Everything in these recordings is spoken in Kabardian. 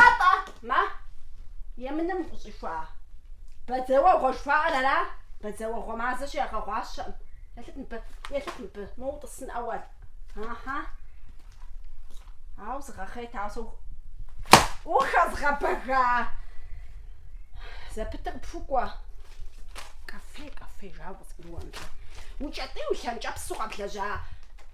Атӏэ, ма, емыным укъыщӏихуа. Бадзэуэгъуэ жыхуаӏэр ара? Бадзэуэгъуэ мазэщи ягъэгъуащэкъым. Елъыт мыбы, елъыт мыбы, мо утӏысын ӏэуэл. Ахьа. Ау зыгъэхъейт, ау сэ ух- ухэзгъэбэга. Зэпытыр пхукӏуэ. Кафе, кафе, жаӏэ, къызгурыӏуэкъым. Уи кӏэтӏий уи лъэнкӏэпсу къэблэжьа.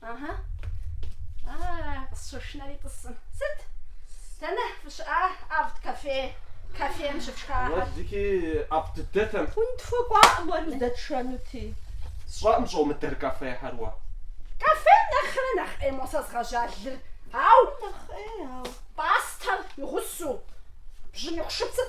Ага. А, къысщышынэри тӏысым. Сыт? Дэнэ фыщыӏа авт кафе? Кафем щыпшхаӏэр. Уэ зыки ӏэфӏ дыдэтэм. Унытхуэкӏуакъым уэ уздэтшэнути. Сщӏэкъым щӏомыдэр кафехэр уэ. Кафем нэхърэ нэхъ ӏей мо сэ згъэжьа лыр. Ау! Нэхъ ӏей, ау. Пӏастэр игъусу. Бжьыныху шыпсыр.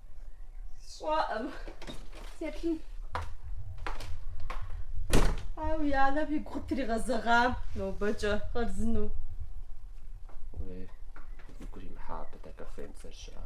Сщӏэӏым. Сеплъын. Ау, и анэм и гу къытригъэзэгъам нобэкӏэ хъарзыну. Уи игу римыхьа абы дэ кафем зэрыщыӏа.